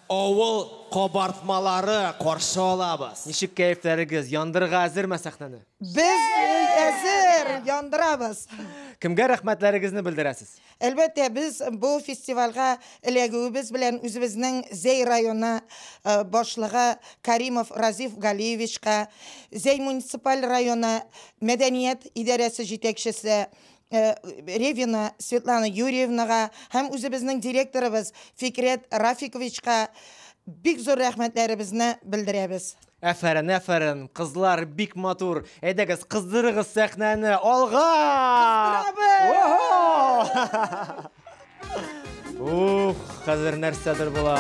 Авыл кабартмалары каршы алабыз. Ничек кәефләрегез? Яндырырга әзерме сәхнәне? Без әзер яндырабыз. Кемгә рәхмәтләрегезне белдерәсез? Әлбәттә, без бу фестивальгә эләгүебез белән үзебезнең Зәй районы э, башлыгы Каримов Разиф Галиевичка, Зәй муниципаль районы мәдәният идарәсе җитәкчесе э, Ревина Светлана Юрьевнага һәм үзебезнең директорыбыз Фикрет Рафиковичка бик зур рәхмәтләребезне белдерәбез. Әфәрен, әфәрен, кызлар бик матур. Әйдәгез, кыздырыгыз сәхнәне. Алга! Кыздырабыз! Ух, хәзер нәрсәдер була.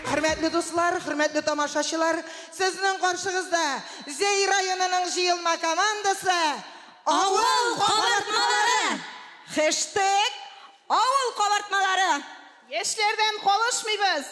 Хөрмәтле дуслар, хөрмәтле тамашачылар, сезнең каршыгызда Зәй районының җыелма командасы Авыл кабартмалары! Хэштег Авыл кабартмалары! Яшьләрдән калышмыйбыз!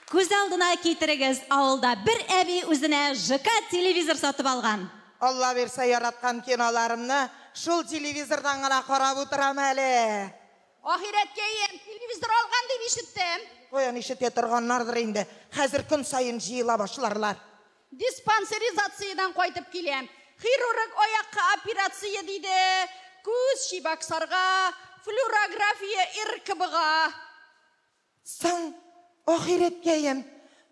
Күз алдына китерегез, авылда бер әби үзенә ЖК телевизор сатып алган. Алла бирсә, яраткан киноларымны шул телевизордан гына карап утырам әле. Ахирәткә иям, телевизор алган дип ишеттем. Каян ишетә торганнардыр инде, хәзер көн саен җыела башларлар. Диспансеризациядән кайтып киләм. Хирург аякка операция диде, күз, чибаксарга, флюрография, РКБга. Соң, ахирәткәем,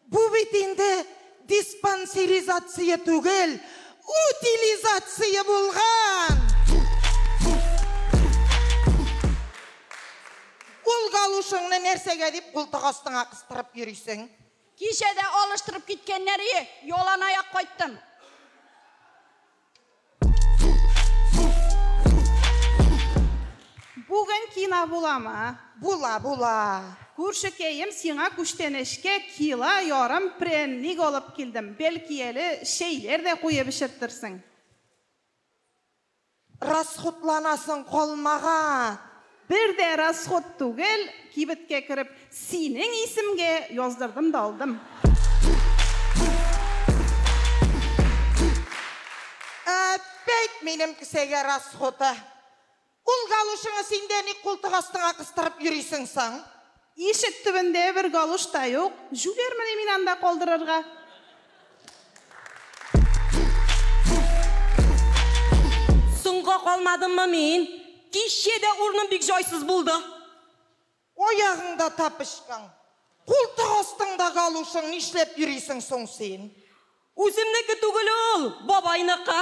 бу бит инде диспансеризация түгел, утилизация булган! Ул галушыңны нәрсәгә дип култык астыңа кыстырып йөрисең? Кичә дә алыштырып киткәннәр ие, яланаяк кайттым. Бүген кина буламы? Була, була. Күршекәем, сиңа күчтәнәчкә кила ярым прәнник алып килдем. Бәлки әле чәйләр дә куеп эчертерсең. Расхутланасың калмаган. Бер дә расход түгел, кибеткә кереп, синең исемгә яздырдым да алдым. Әппәйт минем кесәгә расходы. Ул галушыңы син дә ник култык астыңа кыстырып йөрисең соң? Ишек төбендә бер галош та юк, җүләрмени мин анда калдырырга? Соңга калмадыммы мин? Кичә дә урыным бик җайсыз булды. Аягыңда тапочкаң, култык астыңда галошың, нишләп йөрисең соң син? Үземнеке түгел ул, бабайныкы.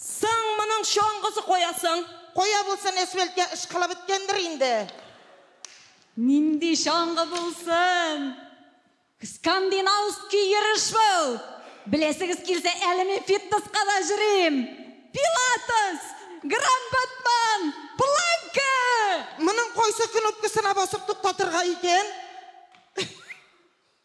Соң моның чаңгысы кая соң? Кая булсын, әсфәлткә ышкыла беткәндер инде. Нинди чаңгы булсын? Скандинавский йөреш бу! Беләсегез килсә, әле мин фитнеска да йөрим! Пилатес! Гранд-батман! Планка! Моның кайсы кнопкасына басып туктатырга икән?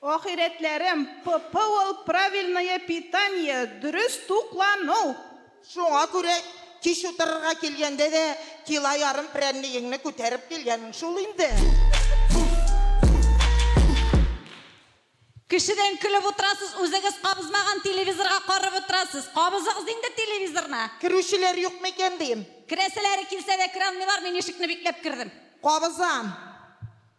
Ахирәтләрем, ППОл правильное питание, дөрес туклану! Шуңа күрә кич утырырга килгәндә дә кило ярым прәннегеңне күтәреп килгәнең шул инде. Кешедән көлеп утырасыз, үзегез кабызмаган телевизорга карап утырасыз. Кабызыгыз инде телевизорны! Керүчеләр юк микән дим? Керәселәре килсә дә кералмыйлар, мин ишекне бикләп кердем. Кабызам.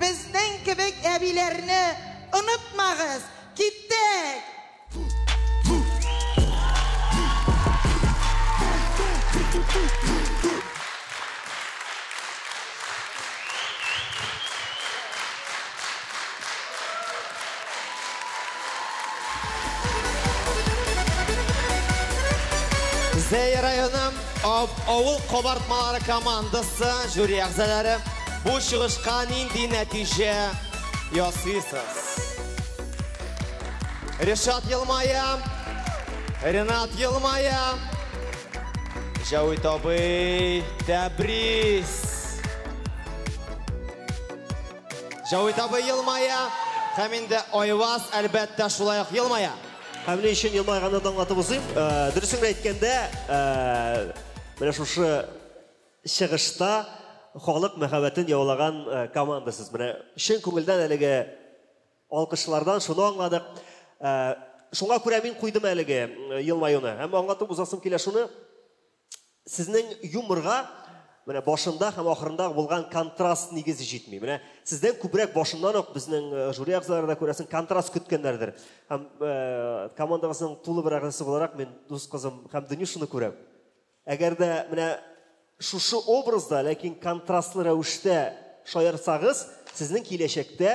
Безнең кебек әбиләрне онытмагыз! Киттек! Зәй районым авыл кабартмалары командасы жюри әгъзалары бу чыгышка нинди нәтиҗә ясыйсыз? Ришат елмая, Ренат елмая, Җәвит абый, тәбрис! Җәвит абый елмая, һәм инде Айваз, әлбәттә, шулай ук елмая. Һәм ни өчен елмайганны да аңлатып узыйм. Э, Дөресен әйткәндә, э, менә шушы чыгышта халык мәхәббәтен яулаган э, команда сез. Менә чын күңелдән әлеге алкышлардан шуны аңладык. Э, шуңа күрә мин куйдым әлеге э, елмаюны. Һәм аңлатып узасым килә шуны. сезнең юморга менә башында һәм ахырында булган контраст нигезе җитми. Менә сездән күбрәк башыннан ук безнең э, жюри әгъзалары да күрәсен контраст көткәннәрдер. Һәм э, командабызның тулы бер әгъзасы буларак мин дус кызым һәм Дөнюшаны күрәм. Әгәр дә менә шушы образда, ләкин контрастлы рәвештә шаярсагыз, сезнең киләчәктә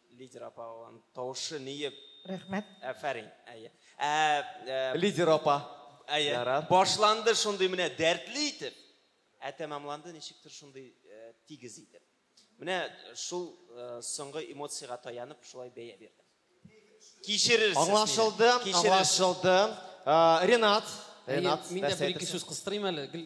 Лидер апа ан тавышы ниеп. Рәхмәт. Әфәрин. Әйе. Ә, ә... Лидер апа. Әйе. Ярар. Башланды шундый менә дәртле итеп. Ә тәмамланды ничектер шундый ә, тигез итеп. Менә шул э, соңгы эмоциягә таянып шулай бәя бирдем. Кичерерсез. Аңлашылды, аңлашылды. Э, Ренат, Ренат, мин дә бер ике сүз кыстырыйм әле. Гел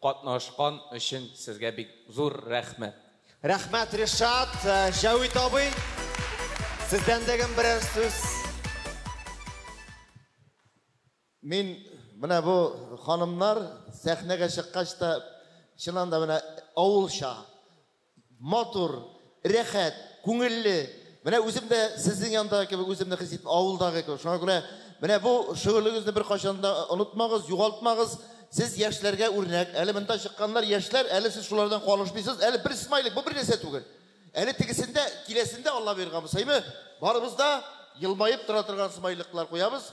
Катнашкан өчен сезгә бик зур рәхмәт. Рәхмәт Ришат, Җәвит абый, сездән дәгем берәр сүз. Мин менә бу ханымнар сәхнәгә чыккач та чыннан да менә авылча Матур, рәхәт, күңелле. Менә үзем дә сезнең яндагы кебек үземне хис итәм, авылдагы кебек. Шуңа күрә менә бу шөгылегезне беркайчан да онытмагыз, югалтмагыз. Сез яшьләргә үрнәк. Әле монда чыкканнар яшьләр, әле сез шулардан калышмыйсыз. Әле бер смайлик, бу бернәрсә түгел. Әле тегесендә, киләсендә Алла боерган булса, әйме, барыбыз да елмаеп тора торган смайликлар куябыз.